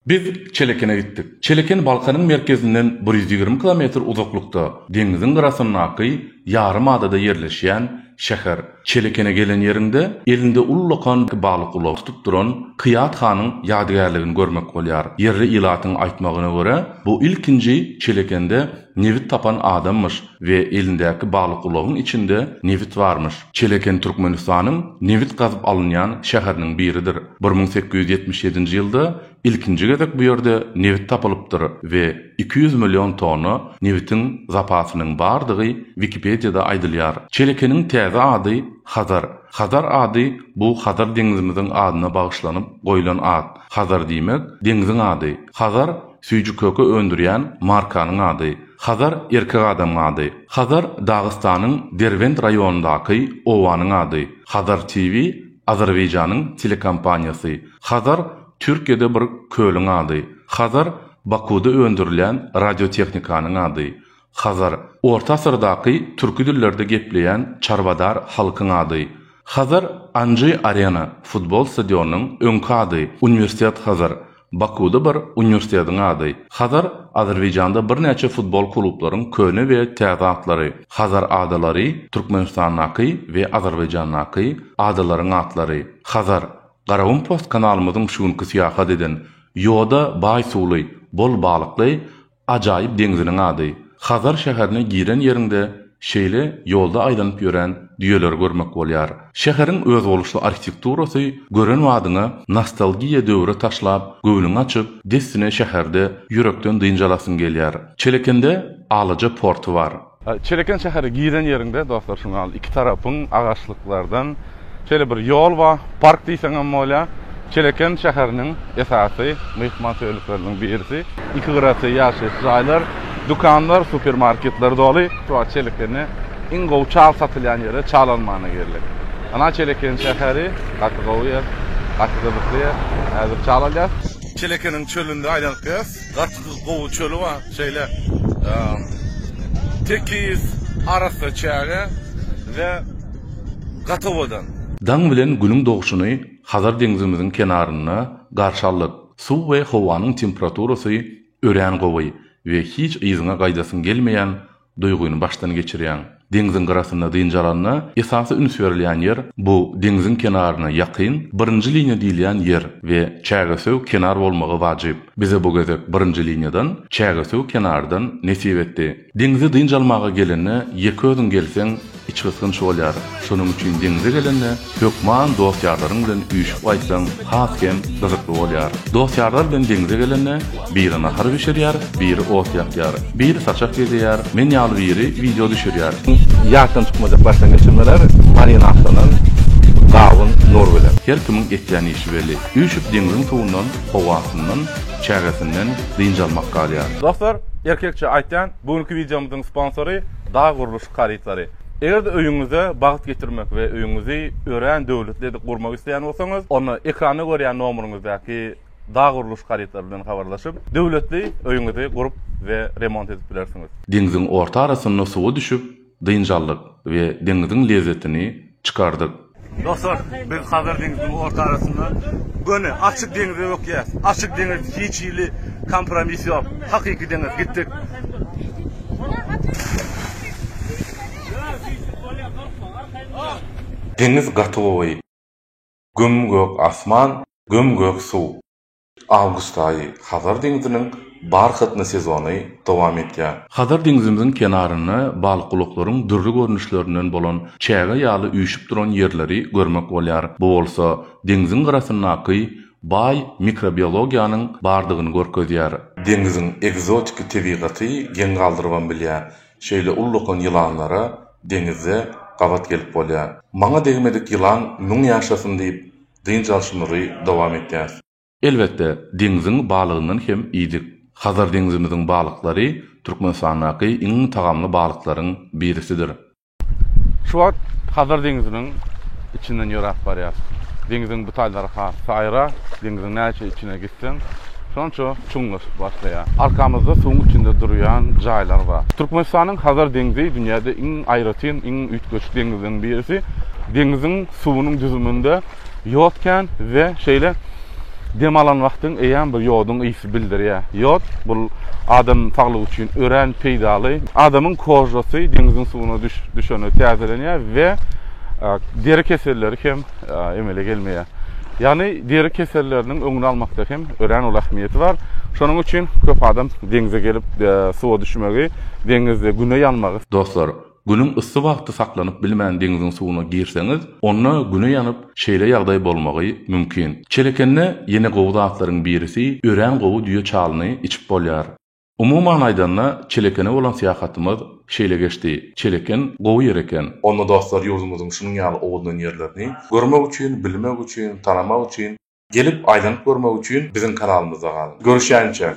Biz Çelekene gitdik. Çeleken Balkanyň merkezinden bir ýüz ýigrimi kilometr uzaklykda, deňziň gyrasyndaky ýarym adada ýerleşýän şäher. Çelekene gelen ýeriňde, elinde ullakan balyk ulagy tutup duran Kyýat hanyň ýadygärligini görmek bolýar. Ýerli ilatyň aýtmagyna görä, bu ilkinji Çelekende Nebit tapan adammyş we elindäki baglykulagyň içinde nebit barmyş. Çeleken Türkmenistanyň nebit gazyp alynýan şäheriniň biridir. Bir müň sekiz ýüz ýetmiş ýedinji ýylda ilkinji gezek bu ýerde nebit tapylypdyr we iki ýüz million tonna nebitiň zapasynyň bardygy Wikipediýada aýdylýar. Çelekeniň täze ady Hazar. Hazar ady bu Hazar deňizimiziň adyna bagyşlanyp goýlan at. Hazar diýmek, deňziň ady. Hazar Süýji köke öndürýän markanyň ady. Hazar erkek adamyň ady. Hazar Dagystanyň Derbent raýonyndaky obanyň ady. Hazar TV Azerbaýjanyň telekompaniýasy. Hazar Türkiýede bir kölüň ady. Hazar Bakuda öndürilýän radiotehnikanyň ady. Hazar, orta asyrdaky türki dillerde gepleýän çarwadar halkyň ady. Hazar Anji Arena, futbol stadionynyň öňki ady, Uniwersitet Hazar, Bakuda bir uniwersitetiň ady. Hazar, Azerbaýjanda birnäçe futbol klublaryň köne we täze atlary. Hazar adalary, Türkmenistandaky we Azerbaýjandaky adalaryň atlary. Hazar, Garagum Post kanalymyzyň şu günki syýahat eden, ýoda baý suwly, bol balykly, Ajaýyp deňziniň ady. Hazar şäherine giren ýeriňde şeýle ýolda aýlanyp ýören düýeleri görmek bolýar. Şäheriň özboluşly arhitekturasy gören badyňa nostalgiýa döwre taşlap, göwnüňi açyp, dessine şäherde, ýürekden dynç alasyň gelýär. Çelekende alaja porty bar. Çeleken şähere giren ýeriňde dostlar şu gal iki tarapyň agaçlyklardan şeýle bir ýol bar. Park diýseň hem bolýar. Çeleken şäheriniň esasy myhman söýerlikleriniň birisi. Iki gyrasy ýaşaýyş jaýlar, dükanlar, supermarketler doly. Şu wagt Çelekende iň gowy çal satylýan ýere çal almana geldik. Ana Çeleken şäheri gaty gowy ýer, gaty gyzykly ýer. Häzir çal alýas. Çelekeniň çölünde aýlanyp gelýas. Biz gowy çöli bar, şeýle tekiz, arassa çäge we gaty owadan. Daň bilen Günüň dogşuny Hazar deňzimiziň kenarynda garşy aldyk. Suw we howanyň temperaturasy örän gowy we hiç yzyňa gaýdasyň gelmeýän Duýgyny başdan geçirýäň. Deňziň gyrasynda dynç alanda, esasy üns berilýän ýer, bu deňziň kenaryna ýakyn, birinji liniýa diýilýän ýer we çägesöw kenar bolmagy wajyp. Bize bu gezek birinji liniýadan, çägesöw kenardan nesip etdi. Deňze dynç almaga gelende ýeke özüň gelseň, Içgysgynç bolýar. Şonuň üçin deňze gelende, hökman dost-ýarlaryň bilen üýşüp gaýtsaň, has hem gyzykly bolýar. Dost-ýarlar bilen deňze gelende, biri nahar bişirýär, biri ot ýakýar, biri saçak gezeýär, men ýaly biri wideo düşürýär. Ýatdan çykmajak başdan geçirmeler, marinatlenen gawun, nur bilen. Her kimiň etýän işi belli. Üýşüp deňziň suwundan, howasyndan, çägesinden dynç almak galýar. Dostlar, erkekçe aýtýan, bu günki wideomyzyň sponsory Dag gurluşyk. harytlary. Eger-de öýüňize bagt getirmek we öýüňizi örän döwletli edip gurmak isleýän bolsaňyz, onda ekranda görýän nomuryňyzdaky dag gurluş harytlary bilen habarlaşyp, döwletli öýüňizi gurup we remont edip bilersiňiz. Deňziň orta arasynda suwa düşüp, dynç aldyk we deňziň lezzetini çykardyk. Dostlar, biz Hazar deňziniň orta arasynda göni açyk deňze bökýäs. Açyk deňiz hiç hili kompromis ýok. Hakyky deňiz. Gitdik. Deňiz gaty gowy. Göm gök asman, göm gök suw. Awgust aýy, Hazar deňziniň barhatny sezony dowam edýär. Hazar deňzimiziň kenarynda balykgulaklaryň dürli görnüşlerinden bolan çäge ýaly üýşüp duran ýerleri görmek bolýar. Bu bolsa deňziň gyrasyndaky baý mikrobiologiýanyň bardygyny görkezýär. Deňziň ekzotiki tebigaty geň galdyrybam bilýär. Şeýle ullakan ýylanlara deňizde gabat gelip bolýar. Maňa degmedik ýylan müň ýaşasyn diýip, Dynç alşymyzy dowam etýäris. Elbetde, deňziň balygyndan hem iýdik. Hazar deňzimiziň balyklary Türkmenistandaky iň tagamly balyklaryň birisidir. Şu wagt Hazar deňziniň içinden ýöräp barýas. Deňziň bu taýlary has saýra, deňziň näçe içine gitseň, ýetseň, şonça çuňlaşyp başlaýar. Arkamyzda suwuň içinde durýan jaýlar bar. Türkmenistanyň Hazar deňzi dünýäde iň aýratyn, iň üýtgeşik deňizleriň birisi. Deňziň suwunyň düzüminde ýod kän we şeýle dem alan wagtyň eýýäm bir ýoduň ysy bildirýär. Ýod, bul adam saglygy üçin örän peýdaly. Adamyň kožasy deňziň suwuna düşende täzelenýär we deri keselleri hem emele gelmeýär. Ýagny deri keselleriniň öňüni almakda hem örän uly ähmiýeti bar. Şonuň üçin köp adam deňze gelip, suwa düşmegi, deňizde güne ýanmagy. Dostlar, günüň yssy wagty saklanyp bilmän deňziň suwuna girseňiz, onda güne ýanyp, şeýle ýagdaý bolmagy mümkin. Çelekende ýene gowy zatlaryň birisi örän gowy düýe çalyny içip bolýar. Umuman aýdanda, Çelekene bolan syýahatymyz şeýle geçdi, Çeleken gowy ýer eken. Onda dostlar ýurdumyzyň şunuň ýaly owadan ýerlerini görmek üçin, bilmek üçin, tanamak üçin, gelip aýlanyp görmek üçin biziň kanalymyzda galyň. Görüşýänçä!